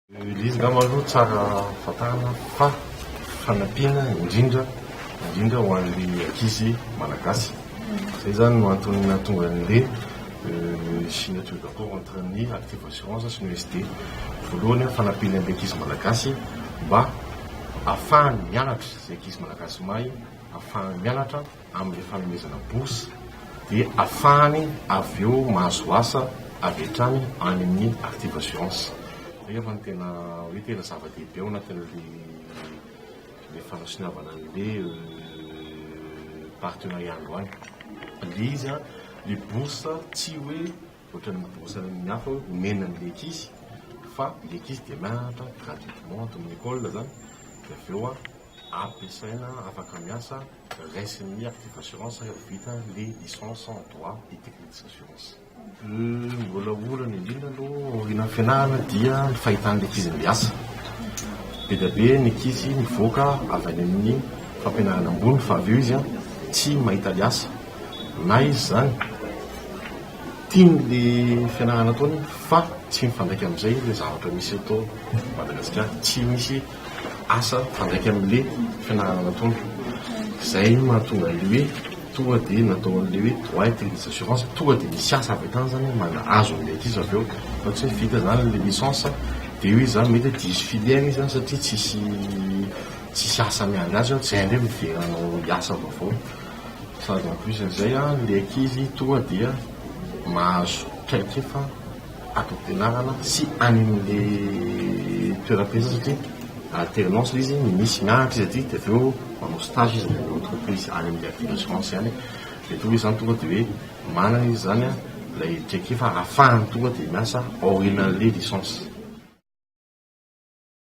Izy angamba aloha tsara fantarina fa fanampiana indrindra indrindra ho an'ny ankizy malagasy. Izay izany no antony nahatonga an'ilay euh, signature d'accord entre ny Active Assurance sy ny OSD. Voalohany a, fanampiana an'ilay ankizy malagasy mba afahany mianatra izay ankizy malagasy mahay afahany mianatra amin'ny fanomezana bourse dia afahany avy eo mahazo asa avy hatrany any amin'ny Active Assurance. Izay angamba no tena hoe tena zava-dehibe ao anatin'ilay fanasoniavana an'ilay partenariat androany. Ilay izy, ilay bourse tsy hoe ohatran'ny bourse any amin'ny hafa hoe omena an'ilay ankizy fa ilay ankizy dia mianatra gratuitement ato amin'ny école izany dia avy eo ampiasaina afaka miasa. raisin'ny articles d'assurance rehefa vita ny licence en droit et technique des assurances. Ny mbola olana indrindra aloha aorianan'ny fianarana dia ny fahitan'ny ankizy miasa. Be dia be ny ankizy mivoaka avy any amin'ny fampianarana ambony fa avy eo izy tsy mahita ny asa na izy izany tiany le fianarana ataony fa tsy mifandraika amin'izay le zavatra misy eto Madagasikara, tsy misy. asa mifandraika amin'ilay fianarana nataony. Izay no mahatonga an'ilay hoe tonga dia natao an'ilay hoe droit et crédit d'assurance, tonga dia misy asa avy hatrany izany mba hahazo an'ilay ankizy avy eo fa tsy hoe vita izany ilay licence dia hoe izaho mety hoe diso filière izy satria tsisy tsisy asa miandry azy eo, tsy hainy hoe miverina hanao asa vaovao. Sady en plus an'izay an, ilay ankizy tonga dia mahazo traikefa. ato am-pianarana sy any amin'ilay toeram-piasana satria alternance ilay izy, misy mianatra izy aty dia avy eo manao stage izy any amin'ny entreprise any amin'ny avia assurance any, dia toa hoe izany tonga dia hoe manana izy izany ilay traikefa ahafahany tonga dia miasa aorianan'ilay licence.